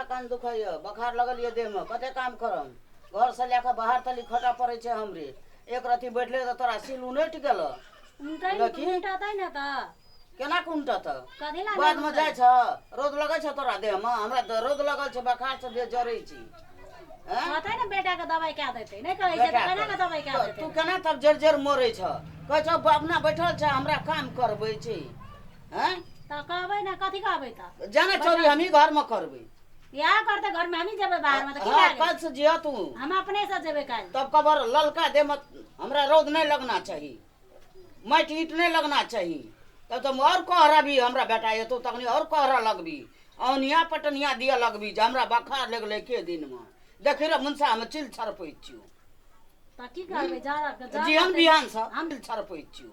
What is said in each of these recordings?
हमरा कान दुखाइए बोखार लगल यए देहमे कतेक काम करब घरसँ लए कऽ बाहर तक खटय पड़ै छै हमरे एक रत्ती बैठले तऽ तोरा सिल उनटि गेलऽ उनटै ने देखी। तऽ उनटतै ने तऽ केना कऽ उनटत कथी लए बादमे नहि जाइ छह रोद लगै छह तोरा देहमे हमरा द- रोद लगल छै बोखारसँ देह जरै छी एँ? कहतै ने बेटाके दबाइ कए देतै नहि कहै छै तऽ बेटा केना कऽ दबाइ कए तऽ देतै तू केना तब जर जर मरै छह कहै छह अपना बैठल छै हमरा काम करबै छै हैं तऽ कहबै ने कथी कहबै तऽ जाने चोरी हमही घर में करबे बियाह करते घर में हमही जेबै बाहर में तऽ की हाँ लागै कल से जिया तू हम अपने से जेबै काल्हि तब कबर ललका दे मत हमरा रौद नहीं लगना चाहिए माइट ईट नहीं लगना चाहिए तब तुम और कहरा भी हमरा बेटा ये तो तखनी और कहरा लगबी औनिया पटनिया दिया लगबी जे हमरा बखार लगले के दिन में देखी रे मुंसा हम चिल छरपै छियो तऽ की करबै जा जा- जीवन बिहान से हम- हम छरपै छियो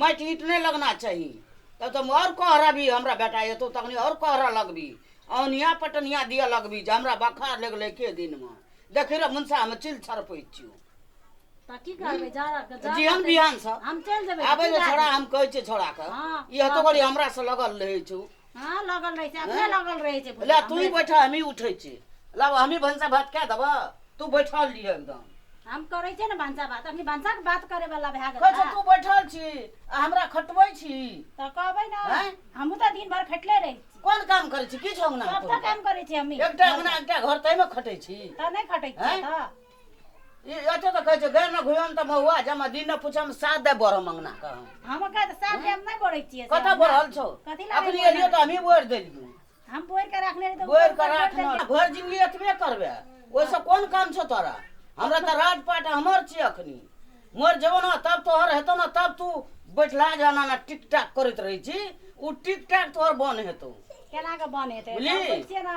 माटि ईट नहि लगना चाही तब तऽ हम आओर कह रहबी हमरा बेटा एतौ तखनी आओर कह रह लगबी औनिया पटनिया दिअ लगबी जे हमरा बखार लग गेलै के दिनमे देखी रह मुनसामे चिल छरपै छियौ तऽ की करबै जाड़ा के जाड़ा जीहन तऽ- बिहानसँ हम चलि जेबै आबै की जे करबै? छोड़ा हम कहै छियै छोड़ाके हँ, ई हतो करी हमरासँ लगल रहै छौ हाँ लगल रहे छै अपने हाँ? लगल रहे छै ले तू ही बैठा हम ही उठे छी ला हम ही भंसा भात कह देबा तू बैठल लिए एकदम हम करे छै ने भंसा भात अपनी भंसा के बात करे वाला भए गेल कह तू बैठल छी आ हमरा खटबै छी त कहबै ना हाँ? हम त दिन भर खटले रहे छी कोन काम करे छी किछ अंगना सब त काम करे छी हम एकटा अंगना एकटा घर तै में खटै छी त नै खटै छी हाँ? त ई अटे तऽ कहै छै गए ने घुयन तऽ महुआ जमा दिन ने पूछम साथ दे बरह मंगना कह हम कहे तऽ साथ हम नहीं बोले छिए कतऽ बढ़ल छौ कथी लए अखनी एलियो तऽ हमही बोर देलियो हम बोर के रखने रही तो बोर कर रखना घर जिंदगी एतबे करबे ओइसे कोन काम छौ तोरा हमरा तऽ राजपाट हमर छिए अखनी मोर जेबो ने तब तोहर हेतौ ने तब तू बैठला जाना ना टिक टाक करैत रहै छी ओ टिक टाक तोहर बन हेतौ केना के बन हेतै बुझली? सब बुझिए ना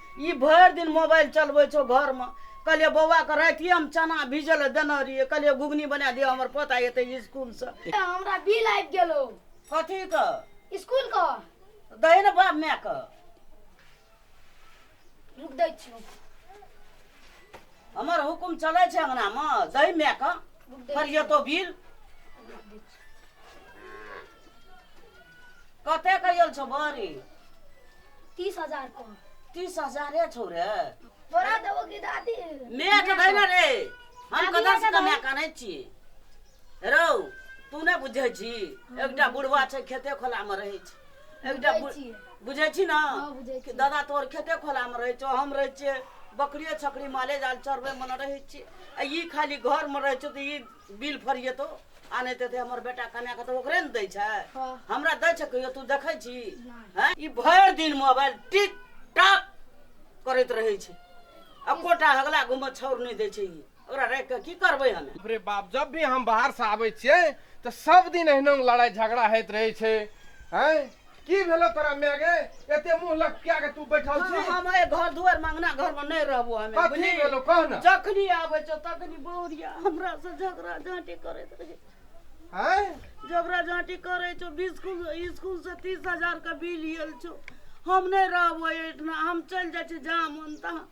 ई भरि दिन मोबाइल चलबै छौ घरमे कहलियै बौआके रातिए हम चना भीजै लए देने रहियै कहलियै घुघनी बना दिअ हमर पोता एतै स्कूलसँ हमरा बिल आबि गेल हौ कथीके स्कूलके दही ने बाप मायके रुक दै छियौ हमर हुकुम चलै छै अङ्गनामे दही मायके रुक दै फरियतो बिल कते क गेल छौ बड़ी तीस हजार को तीस हजारे छौ रे तोरा देबो की दादी माय के दे ने रे हम दादी कतऽ से के कमाए दे। कऽ आनै छी रौ तू नहि बुझै छी एकटा बुढ़वा छै खेते खोला मे रहै छै एकटा बुझै बु- छियै। बुझै छी ने हँ, बुझै कि छियै। दादा तोहर खेते खोला मे रहै छौ हम रहै छियै बकरिए छकरी माले जाल चरबै मे ने रहै छियै आ ई खाली घर मे रहै छौ तऽ ई बिल फरिएतो आ नहि तऽ हमर बेटा कन्या के तऽ ओकरे ने दै छै हाँ। हमरा दै छै कहियो तू देखै छी हैं? ई भरि दिन मोबाइल टिक टाक करैत रहै छै आ कोटा हगला घुमऽ छोड़ नहि दै छै ई ओकरा राखि कऽ की करबै हमे अरे बाप जब भी हम बाहर से आबै छियै तऽ सब दिन एहना लड़ाई झगड़ा होइत रहै छै हैं की भेलो तोरा माय गे एते मुंह लटका के तू बैठल छी हाँ, हम ए घर दुआर मंगना घर में नहीं रहबो हमें कथी बुझली? भेलो कह ना जखनी आबे छो तखनी बौरिया हमरा से झगड़ा झांटी करैत रहे हैं झगड़ा झांटी करे छो बिस्कुल स्कूल से तीस हजार के बिल आयल छो हम नहीं रहबो एठना हम चल जाय छी जहाँ मन तहाँ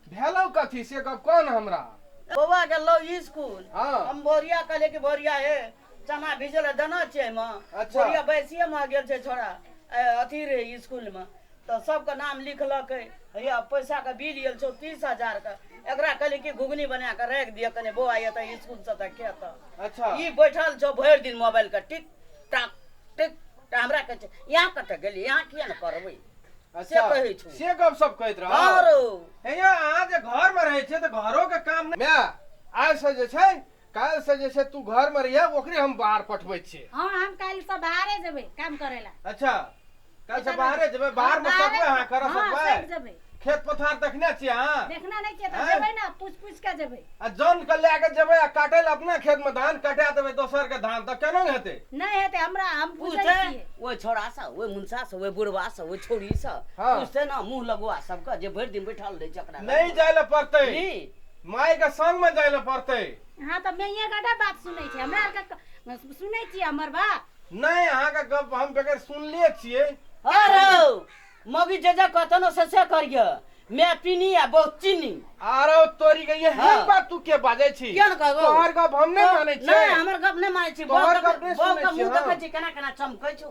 भेलो कथी से गप कह ना हमरा बौआ गेलो स्कूल हाँ। हम बोरिया कहले कि बोरिया हे चना भिजै लए देने छियै एहिमे अच्छा। बुढ़िया बैसिये मे गेल छै छोड़ा ए, अथी रहै स्कूल मे तऽ सबके नाम लिखलकै हैया पैसा के बिल आयल छौ तीस हजार के एकरा कहलियै कि घुघनी बना कऽ राखि दिअ कने बौआ एतऽ स्कूल से तऽ खेतऽ अच्छा ई बैठल छौ भरि दिन मोबाइल के टिक टाक टिक टाक हमरा कहै छै यहाँ कतऽ गेलियै यहाँ किया ने पढ़बै से अच्छा कहै छौ से गप सब कहैत रह हँ रौ हे यौ अहाँ जे घर मे रहै छियै तऽ घरो के काम नहि माय आइ से जे छै काल्हि से जे छै तू घर में रहिए ओकरे हम बाहर पठबै छियै हाँ हम काल्हि से बाहरे जेबै काम करे ला अच्छा काल्हि से बाहरे जेबै बाहर में सकबै अहाँ कर सकबै खेत पथार देखने छियै अहाँ देखना नहीं छियै तऽ जेबै ना पूछ पूछ के जेबै आ जन के लए के जेबै आ काटे ला अपना खेत में धान कटा देबै दोसर के धान तऽ केना हेतै नहीं हेतै हमरा हम पूछे छियै ओहि छोड़ा से ओहि मुंसा से ओहि बुढ़वा से ओहि छोड़ी से पूछते ना मुंह लगवा सबके जे भरि दिन बैठल रहै छै ओकरा नहीं जाय ला पड़तै माय के संग में जाय ले पड़ते अहाँ तऽ मैये गटा बात सुनै छै हमरा आरके क- सुनै छियै हमर बात नहीं अहाँ के गप हम बेगर सुनले छियै अरे मौगी जे जे कहतन से से करिय मैं पीनी आ बहुत चीनी आरो तोरी के ये हाँ। हम बात तू के बाजे छी किया ने कहबो? तोहर गप हम नहीं माने छी नहीं हमर गप नहीं मानै छी तोहर गप नहीं सुनै छी, मुंह हाँ। देखै छी केना केना चमकै छौ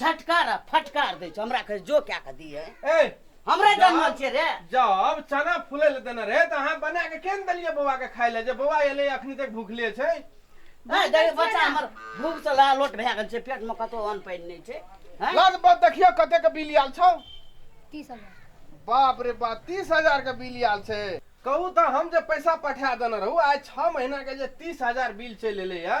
झटकार आ फटकार दै छौ हमरा कहे जो कए कऽ दिए ए हमरे जन्म छियै रे जब चना फूले ले देने रहे त अहाँ बना के केन देलिए बौआ के खाय ले जे बौआ एले अखनी तक भूखले छै ए देखी बच्चा हमर भूख से ला लोट भए गेल छै पेट में कतो अन्न पानि नहि छै हैं? लद बद देखियो कते के बिल आयल छौ तीस हजार बाप रे बाप तीस हजार के बिल आयल छै कहू तऽ हम जे पैसा पठा देने रहू आइ छह महीना के जे तीस हजार बिल चलि एलै है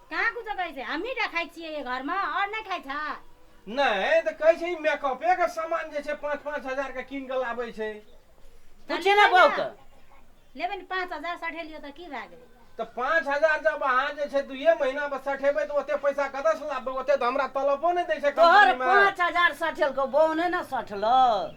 कहाँ कुछो कहै छै हमही टा खाइ छियै एहि घरमे आओर नहि खाइ छै नहि तऽ कहै छै ई मेकअपे के सामान जे छै पाँच पाँच हजार के कीन कऽ लाबै छै पूछी ने बहू के लेबै ने पाँच हजार सठे लियौ तऽ की भए गेलै तऽ पाँच हजार जब अहाँ जे छै दुइये महीना पर सठेबै तऽ ओते पैसा कतऽ से लाबबै ओते तऽ हमरा तलबो नहि दै छै तोहर कंपनी मे पाँच हजार सठेलको बहू नहि ने सठलो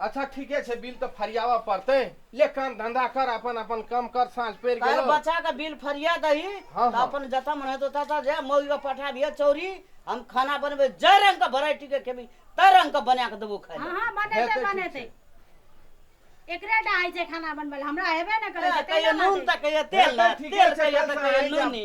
अच्छा ठीके छै बिल तऽ फरियाबऽ पड़तै ले काम धंधा कर अपन अपन काम कर साँझ पड़ि काल्हि गेल बच्चा के बिल फरिया दही हाँ, तऽ हाँ। अपन जतऽ मन हेतौ ततऽ जे मौगी के पठाबिहे चौरी हम खाना बनबै जाहि रंग के वेराइटी के खेबी ताहि रंग के बना के देबो खाय हँ ले हँ बनेतै हेतै, ठीक बनेतै छै। एकरे टा होइ छै खाना बनबै लए हमरा हेबे ने करै छै कहियो कैला नून मानै तऽ कहियो तेल हेतै, ने ठीके तेल छै, कहियो काल्हि तऽ से कहियो आइ जायब। नूनी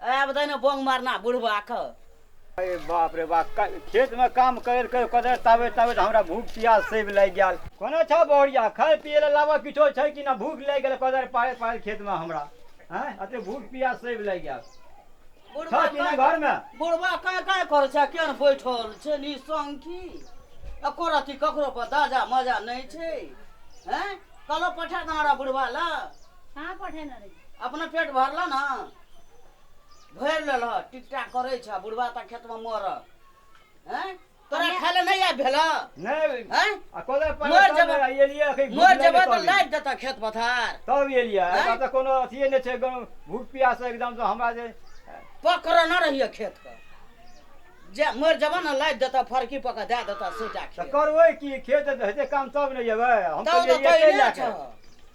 आब दहिने बोंग मारना बुढ़वा के अरे बाप रे बाप क- खेत में काम कर कर कदर ताबे ताबे तो हमरा भूख प्यास से भी लग गया कोना छ बौरिया खाए पिए ला लावा किछो छै कि ना भूख लग गेल कदर पाए पाए खेत में हमरा हैं अते भूख प्यास से भी लग गया छ बुढ़वा कि ना के- घर में बुढ़वा काय काय करे छै केन बैठल छै नि संगी एको रति ककरो पर दाजा मजा नहीं छै हैं कलो पठा दहरा बुढ़वा ला कहाँ पठेने रही अपना पेट भरलह ने भरि लेलह टिकटा करै छह बुढ़वा ता खेतमे मरह हैं तोरा खाय ले नहि आबि भेलह नहि हैं आ कोदा पर मर तब जेबह। ने एलियै अखन भूख मर लागि जेबह तऽ तब लादि देतह खेत पथार तब एलियै आँय? हमरा तऽ कोनो अथिए नहि छै गाँव भूख प्यास एकदमसँ हमरा जे पकड़ने रहिए खेतके जे मरि जेबह ने लादि देतह फरकी पऽ कऽ दए देतह सोटा तऽ खेत करबै की खेत हेतै काम तब ने जेबै हम तब तऽ तऽ एलियै कहै एतै लए ने कऽ छह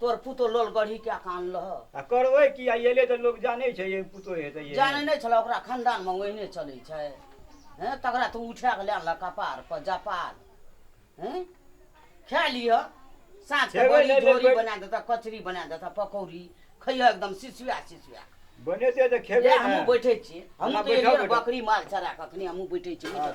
तोर पुतोह लोल गढ़ी कए कऽ आनलह। आ करवै की? आइ एलै तँ लोक जानै छै जे पुतोह हेतै एहन। जानै नै छलह ओकरा खनदानमे ओहिने चलै छै। हें तकरा तू उठा कऽ लए अनलह कपारपर जपाल। हें खा लिहह। साँझकेँ खेबै बड़ी नहि तऽ झोरी बड़ि। बना देतह, कचरी बना देतह, पकौड़ी। खइहह एकदम सिसुआ सिसुआ कऽ। बनेतै तँ खेबै यैह ने। हमहूँ बैठै छियै। हमहूँ हमरा तँ बैठह एलियै ने बैठह। बकरी माल चरा कऽ अखने हमहूँ बैठै छियै। बैठह।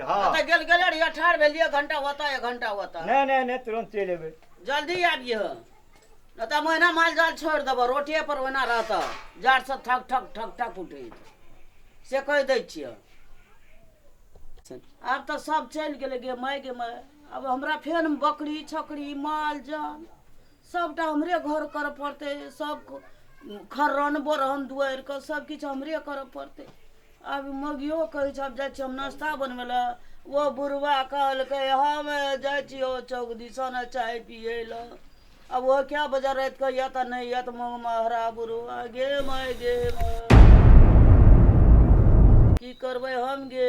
हाँ ओतऽ गेल गेले रहिए ठाढ़ भेलिए एक घंटा ओतऽ एक घंटा ओतऽ नहीं नहीं नहीं तुरंत चल अबे जल्दी आबिए नहि तऽ हम ओहिना माल जाल छोड़ि देबऽ रोटिए पर ओहिना रहतऽ जाड़सँ ठक ठक ठक ठक उठैत से कहि दै छिए आब तऽ सब चलि गेलै गे माय गे माय आब हमरा फेर बकरी छकरी माल जाल सभटा हमरे घर करऽ पड़तै सभ खर्रन बोरहन दुआरिके सभकिछु हमरे करऽ पड़तै आब मौगियो कहै छै आब जाइ छी हम नाश्ता बनबै लए ओ बुढ़वा कहलकै हम जाइ छियौ चौक दिसन चाय पियै लए आ ओ कए बजे रातिके या तऽ नहि या तऽ मौग महरा बुढ़वा गे माय गे माय की करबै हम गे